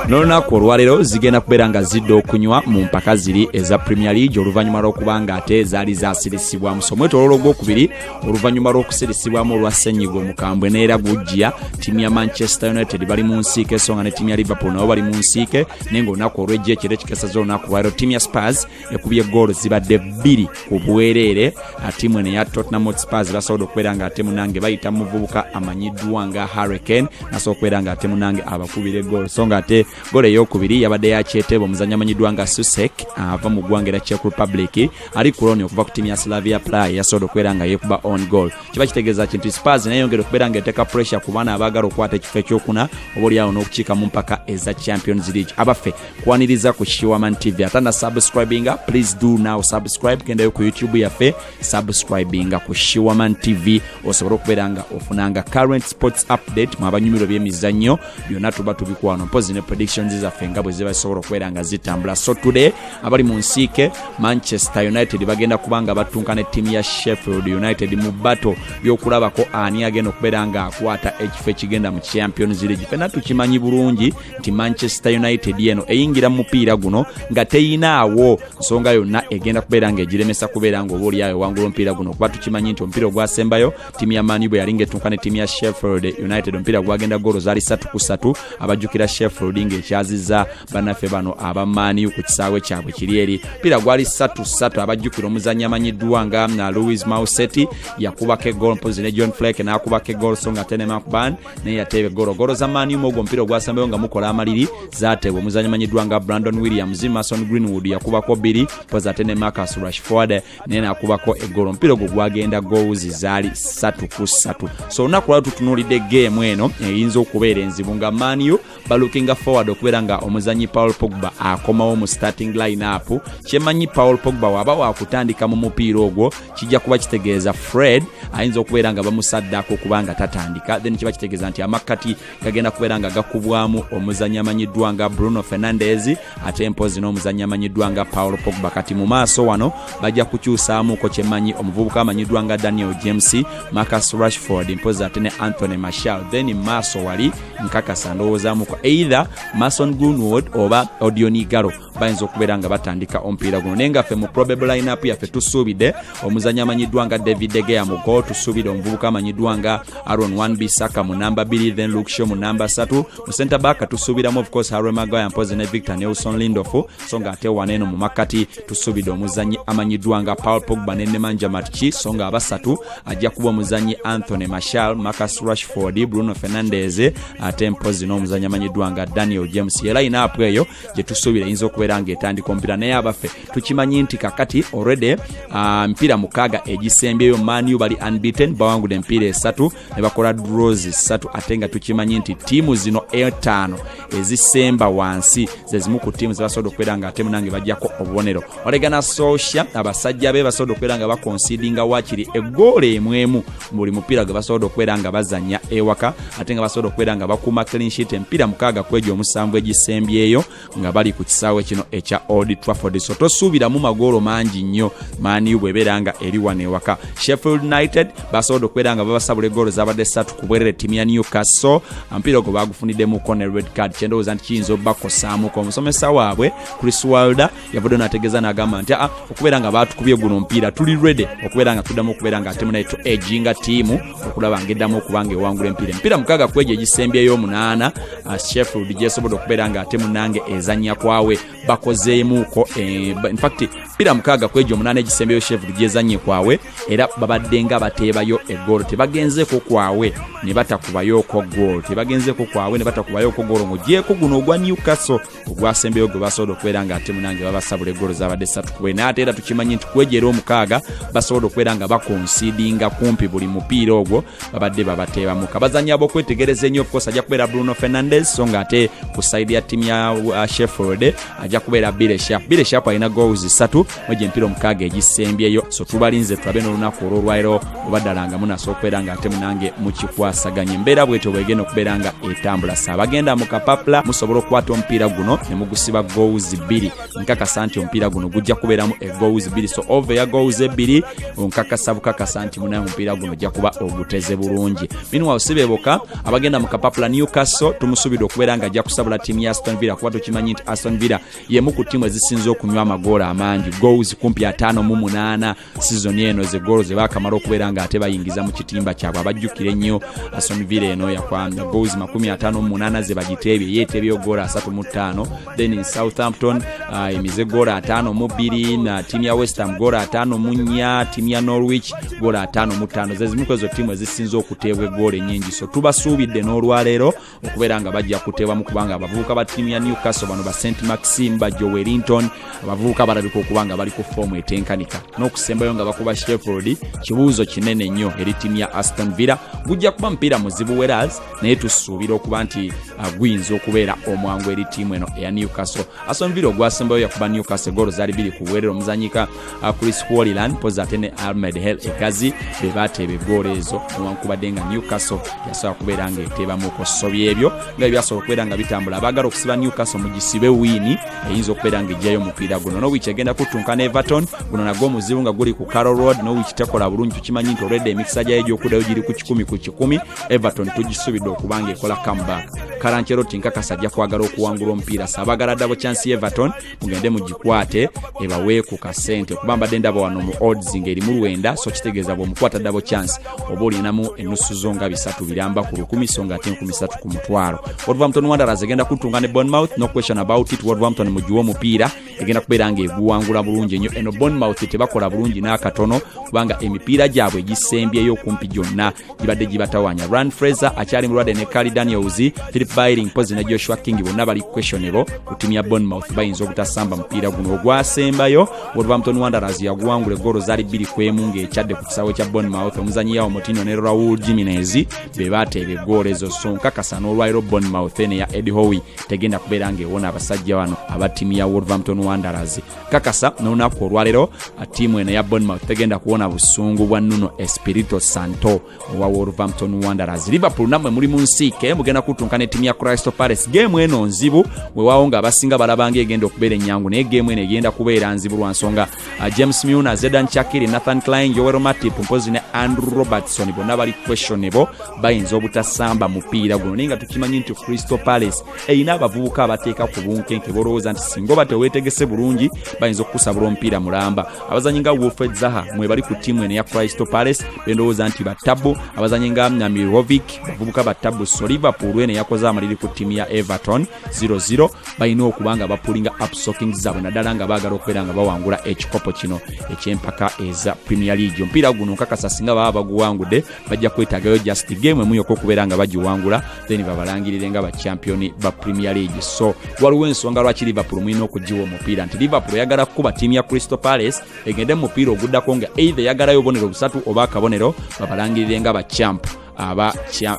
n'olunaku olwaleero zigenda kubeera nga zidda okunywa mu mpaka ziri eza premier league oluvannyuma lw'okuba nga ate zaali zasirisibwamu so omwetololo ogwokubiri oluvannyuma lw'okusirisibwamu olwa senyiga omukambwe neera gujja ttiimu ya manchester united bali mu nsiike so nga ne ttiimu ya liverpool nabo bali mu nsiike naye nga olunaku olwejjo ekiro ekikesaza olunaku lwaleero ttiimu ya spars ekubye goolo zibadde bbiri ku bwereere tiimu eno eya tottenham hotspurs basobola okubeera nga ate munange bayita muvubuka amanyiddwa nga harricane nasobola okubeera nga ate munange abakubire goolo so nga ate goolo eyokubiri yabadde yakyeteeba omuzanyi amanyiddwa nga susek ava mu ggwanga era czech republic ali ku loni okuva ku tiimu ya slavia play yasobola okubeera nga yekuba on goal kiba kitegeeza kintu spars neyongera okubeera nga eteeka pressure ku baana abaagala okukwata ekifo ekyokuna oba olyawo n'okukiika mu mpaka eza champions league abaffe kwaniriza ku kiwaman tv ate na subscribinga please do now subscribe kendayo ku youtube yaffe subscribinga ku shiwaman tv osobole okubeera nga ofunanga current sports update mu abanyumiro byemizannyo byonna tuba tubikwano mpozi ne predictions zaffe nga bwe ziba zisobola okubeera nga zitambula so today abali mu nsiike manchester united bagenda kuba nga battunka ne ttiimu ya sheffield united mu bato byokulabako ani agenda okubeera nga akwata ekifo ekigenda mu champions league fena tukimanyi bulungi nti manchester united eno eyingira mu mupiira guno nga teyinaawo nsonga yonna egenda kubeera nga egiremesa kubeera nga oba olyayo wangula omupiira guno kuba tukimanyi nti omupiira ogwasembayo tiimu ya manu bwe yali nga etunka ne tiimu ya sheffield united omupiira gwagenda goolo zaali satu ku satu abajjukira sheffield nga ekyaziza banaffe bano aba manu ku kisaawe kyabwe kiri eri omupiira gwali satu satu abajjukira omuzannyi amanyiddwa nga na louis mauseti yakubako egoolo mpozi ne john flake n'akubako egoolo so nga tenemakban naye yateebe golo golo za maniuma ogwo omupiira ogwasembayo nga mukola amaliri zateebwa omuzanyi manyiddwa nga brandon williams mason greenwood yakubako bbiri poza ate ne marcus rashford naye nakubako egolo omupiira ogwo gwagenda gowuzi zaali satu ku satu so olunaku lwali tutunuulidde geemu eno eyinza okubeera enzibu nga maniu balukinga forward okubeera nga omuzanyi paul pogba akomawo mu starting lineup kyemanyi paul pogba waba wakutandika mu mupiira ogwo kijja kuba kitegeeza fred ayinza okubeera nga bamusaddako okuba nga tatandika then kiba kitegeeza nti amakkati gagenda kubeera nga gakubwamu omuzanyi amanyiddwa nga bruno fernandez ate mpozi n'omuzannyi amanyiddwa nga paul pogba kati mu maaso wano bajja kukyusaamuuko kyemanyi omuvubuka amanyiddwa nga daniel james marcus rashford mpozi ate ne anthony marshal then maaso wali nkakasa ndowoozamuko either mason grunward oba odionigaro bayinza okubeera nga batandika omupiira guno naye nga ffe mu probable lineup yaffe tusuubidde omuzannyi amanyiddwa nga david degeya mu gol tusuubidde omuvubuka amanyiddwa nga aron wan bisaka mu namba 2 then luksho mu namba 3 mu center back tusuubiramu of course harry magaya mpozi ne victor nelson lindof so nga ate wano eno mu makkati tusuubidde omuzannyi amanyiddwa nga paul pogba ne nemanja matki so nga abasatu ajja kuba omuzannyi anthony mashal marcus rashford bruno fernandez ate mpozi n'omuzannyi amanyiddwa nga daniel james era inaapu eyo gye tusuubira eyinza okubeera nga etandika omupiira naye abaffe tukimanyi nti kakati already ah, emipiira mukaaga egisembyeyo manu bali unbeaten bawangudde emipiira esatu ne bakola draws ssatu ate nga tukimanyi nti ttiimu zino etaano ezisemba wansi ze zimu ku ttiimu ze basobola okubeera nga ate munange bajjako obubonero olegana socia abasajja be basobola okubeera nga bakonsidinga waakiri eggoola emu emu mu buli mupiira gwe basobola okubeera nga bazannya ewaka ate nga basobola okubeera nga bakuuma clean sheet emipiira mukaaga kwejo omusanvu egisembyeyo nga bali ku kisaawe kino ekya old trafford so tosuubiramu magoolo mangi nnyo maniu bwebeera nga eri wano ewaka sheffield united basobodde okubeera nga babasabula egoolo zabadde satu ku bwerere timu ya newcastle omupiira ogwo baagufuniddemukko ne red card kyendowooza nti kiyinza obubakosaamuko omusomesa waabwe chris walder yavudde nategeeza nagamba nti aa ah, okubeera nga baatukubye guno omupiira tuli rede okubeera nga tuddamu okubeera nga timu naye tu eginga tiimu okulaba ng'eddamu okuba ng'ewangula empiira empiira mukaaga ku egyo egisembyeyo omunaana uh, sheffield gyesobodde okubeera ng'ate munange ezannya kwawe bakozeemuuko eh, infact mpiira mukaaga ku egyo omunaana egisembyeyo sheffield gyezannye kwawe era babadde nga bateebayo egoolo tebagenzeeko kwawe ne batakubayoko goolo tebagenzeeko kwawe ne batakubayoko goolo ng'ogyeko guno ogwa newcastle ogwasembeyo gwe basobola okubeera nga ate munange babasabula egolo zabadde satu kubwe naye ate era tukimanyi nti kwegyera omukaaga basobola okubeera nga bakonsidinga kumpi buli mupiira ogwo babadde babateebamuka bazanyi abokwetegereza ennyo ofcourse ajja kubeera bruno fernandez so nga ate ku saidi ya tiimu ya uh, sheffield ajja kubeera bileshap bileshap alina goals satu mwegyo empiira omukaaga egisembyeyo so tubalinze tulabe n'olunaku olwolwairo oba ddala nga munasobola okubeera nga ate munange mukikwasaganya embeera bwetyo bwegenda okubeera nga etambula sa abagenda mu kapapula musobola okukwata omupiira guno ne mugusiba gowuzi bbiri nkakasa nti omupiira guno gujja kubeeramu egowuzi bbiri so ova eya gowuzi ebbiri onkakasa bukakasa nti munaye omupiira guno ojja kuba oguteze bulungi minuwa osibeboka abagenda mu kapapula newcastle tumusubidde okubeera nga ajja kusabula tiimu ya aston villa kuba tukimanyi nti aston villa yemu ku ttiimu ezisinze okunywa amagoolo amangi goals kumpi ataano mu munaana sizoni eno ze goolo ze baakamala okubeera ng'ate bayingiza mu kitimba kyabwe abajjukira ennyo aston villa eno yakwamya goals makumi ataano mu munaana ze bagiteebye ye eteebyeyo goolo asatu mu ttaano then in southampton uh, emize goolo ataano mu bbiri na ttiimu ya westham goolo ataano mu nnya ttiimu ya norwich goolo ataano mu ttaano ze zimu kwezo ttiimu ezisinze okuteebwa egoolo ennyingi so tubasuubidde n'olwaleero okubeera nga bajja kuteebamu kubanga abavubuka ba ttiimu ya newcastle bano ba st maxim ba joe wellington abavubuka balabika okuba nga bali ku foomu etenkanika n'okusembayo nga bakuba sheffield kibuuzo kinene nnyo eri ttiimu ya aston villa gujja kuba mupiira muzibu weras naye tusuubira okuba nti uh, guyinza okubeera omwangu eri ttiimu eno eya newcastle aston villa ogwasembayo yakuba newcastle golo zaali biri ku bwerero omuzanyika uh, chris wolilan pozi ate ne almed hel egazi be bateeba eggoolo ezo newankubadde nga newcastle yasobola kubeera nga eteebamu ku sobi ebyo nga ebyasobola okubeera nga bitambula abaagala okusiba newcastle mu gisibe wiini eyinza okubeera nga ejjayo omupiira guno nowich egenda kuttunka ne everton guno nagwo omuzibu nga guli ku carol road nowich tekola bulungi tukimanyi nti olwedde emikisa gyayo egy'okuddayo giri ku kikumi ku kikumi everton tugisuubidde okuba nga ekola comeback karanceroti nkakasa ajja kwagala okuwangula omupiira saabagala ddabo chansi everton mugende mugikwate ebawe ku kasente kuba mbadde ndaba wano mu odds ng'erimu lwenda so kitegeeza bw'omukwata dabo chance oba olinamu ennusu zo nga bisatu biramba ku lukumi so nga ate enkumi satu ku mutwalo wolverhampton wanderers egenda kutunga ne bonmouth no question about it wolverhampton mugiwa omupiira egenda kubeera ng'eguwangula bulungi ennyo eno bonmouth tebakola bulungi n'akatono kubanga emipiira gyabwe egisembyeyo okumpi gyonna gibadde gibatawanya rand fraser akyali mulwadde ne cali daniels philip biling mpozi ne joshua king bonna bali questionable ku timu ya bonmouth bayinza obutasamba mupiira guno ogwasembayo wolverhampton wanderers yaguwangula egoolo zaali bbiri ku emu ng'ekyadde ku kisaawe kya bonmouth omuzanyi yawo mutino ne raul jiminez be bateeba egoolo ezo so nkakasa n'olwaliro bonmouth eno eya ed howi tegenda kubeera ng'ewona abasajja bano aba timu ya wolverhampton wanderers kakasa n'olunaku olwalero ttiimu eno ya bonmouth tegenda kuwona busungu bwa nuno espirito santo owa wolverhampton wanderers liverpool nammwe muli mu nsiike mugenda kutunka ne ttiimu ya crystal palace geemu eno nzibu wewawo nga abasinga balabanga egenda okubeera ennyangu naye geemu eno egenda kubeera nzibu lwa nsonga uh, james muna zedan chakiri nathan klein joel matip mpozi ne andrew robertson bonna bali questionable bayinza obutasamba mupiira guno naye nga tukimanyi nti crystal palace erina abavubuka abateeka ku bunkenke bolowooza nti singa oba teweetegese bulungi bayinza okukusabula omupiira mulamba abazanyi nga wolfred zaha mwebali ku ttiimu eno eya cristo palace bendowooza nti battabu abazanyi nga namirovic bavubuka battabu so liverpool eno eyakoze amaliri ku ttiimu ya everton 00 balina okuba nga bapulinga upsoking zaabwe naddala nga baagala okubeera nga bawangula ekikopo kino ekyempaka eza premier league omupiira guno nkakasa singa baba baguwangudde bajja kwetagayo just game emu yoka okubeera nga bagiwangula then babalangirire nga bachampioni ba premier league so waliwo ensonga lwaki liverpool mulina okugiwa omupiira nti liverpool eyagala kukuba tiimu ya crystal palace egende mu mupiira oguddako nga either eyagalayo obubonero busatu oba akabonero babalangirire nga bachamp aba,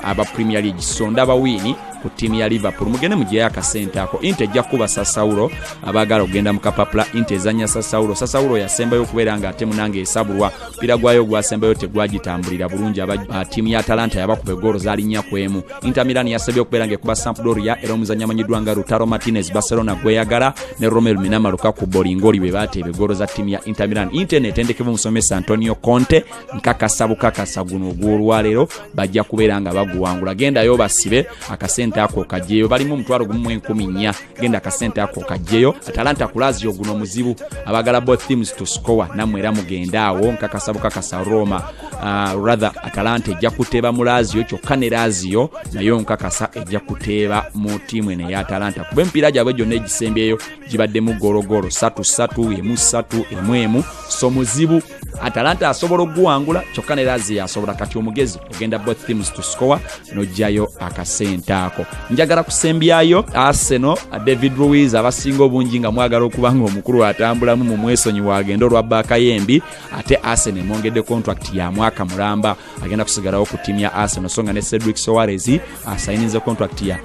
aba premier league so ndaba wiini ku tiimu ya liverpool mugende mugireyo akasente ako inte ejja kukuba sasawulo abaagala okugenda mu kapapula inte ezanya sasawulo sasawulo yasembayo okubeera nga ate munange esabulwa mupiira gwayo ogwasembayo tegwagitambulira bulungi aba ah, tiimu ya talanta yabakuba egoolo zalinnya ku emu inter milan yasabye okubeera ngaekuba sampdoria era omuzannya amanyiddwa nga rutaro martinez barcelona gweyagala ne romel minama lukaku bolingoli bwe bateeba egoolo za tiimu ya inter milan inter neetendekebwa omusomesa antonio conte nkakasa bukakasa guno ogw'olwaleero bajja kubeera nga baguwangula gendayo basibe akasente ako kajeeyo balimu omutwalo gumu mu enkumi nnya genda akasente ako kajjeyo atalanta kulazio guno muzibu abagala both teams to score namwe era mugenda awo nkakasa bukakasa roma uh, rather atalanta ejja kuteeba mu lazio kyokka ne lazio nayo nkakasa ejja kuteeba mu tiimu eno eya atalanta kuba empiira gyabwe gyonna egisembyeyo gibaddemu gologolo satu satu emu satu emu emu so muzibu atalanta asobola okuguwangula kyokka ne lazi yasobola kati omugezi ogenda both teams to score nojjayo akasente ako njagala kusembyayo arsenal david ruiz abasinga obungi nga mwagala okuba nga omukulu atambulamu mu mwesonyiwa agenda olwa baakayembi ate arsenal emwongedde contract ya mwaka mulamba agenda kusigalawo ku ttiimu ya arsenal so nga ne cedric soares asayininze contract ya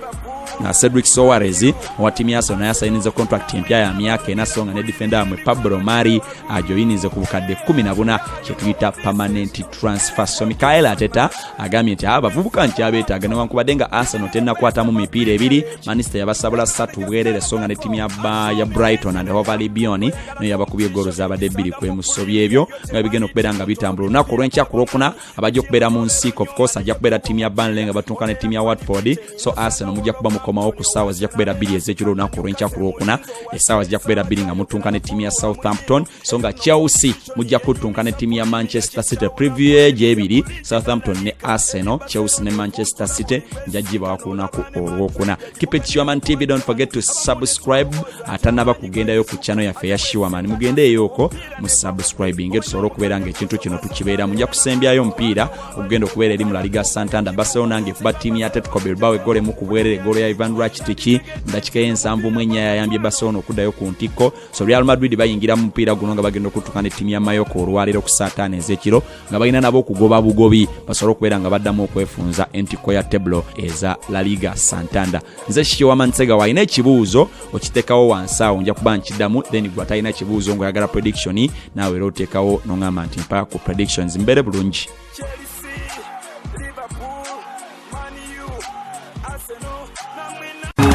na uh, cedric soares owa ttiimu ya arsenal naye asayininze contract empya ya myaka ena so nga ne defenda yamwe pablo mari ajoyininze ku bukadde 14 kyetuyita permanent transfer so mikael ateta agambye nti abavubuka nkyabeetaaga newankubadde nga arsenal tenakwatamu mipiira ebiri manista yabasabula satu bwerere so nga ne ttiimu ya brighton and hovalbion naye yabakubye goolo zabadde bbiri kwemusobya ebyo nga bigenda okubeera nga bitambula olunaku olwenkya ku lwokuna abajja okubeera mu nsiiko ofcourse ajja kubeera ttiimu ya banle nga batuuka ne ttiimu ya watford so arsenal mujja kuba mukomawo ku ssaawa zijja kubeera bbiri ezekiro olunaku olwenkya ku lwokuna essaawa zijja kubeera bbiri nga mutunka ne ttiimu ya southampton so nga chelsea mujja kutunka ne ttiimu ya manchester city preview ejo ebiri southampton ne arsenal chelsea ne manchester city njajjibawa ku lunaku olwokuna keep it shiwaman tv don't forget to subscribe atanaba kugendayo ku chano yaffe ya shiwaman mugendeeyooko mu subscribing tusobole okubeera nga ekintu kino tukibeera muja kusembyayo omupiira okugenda okubeera eri mu laliga santanda basewo nange kuba tiimu ya tetco bilbao egolemu ku bwerere egolo ya ivan rakitiki ndakika y'ensanvu mu enya yayambye basewo n'okuddayo ku ntikko so real madrid bayingira mu mupiira guno nga bagenda okutuka ne tiimu ya mayoko olwaleero ku saataano ez'ekiro nga balina nabo okugoba bugobi basobole okubeera nga baddamu okwefunza entikko ya teblo eza laliga santanda nze kikiwama nsega walina ekibuuzo okitekawo wansi awo nja kuba nkidamu then gwe atalina kibuuzo ngaoyagala prediction naawe era otekawo noŋamba nti mpaka ku predictions mbeere bulungi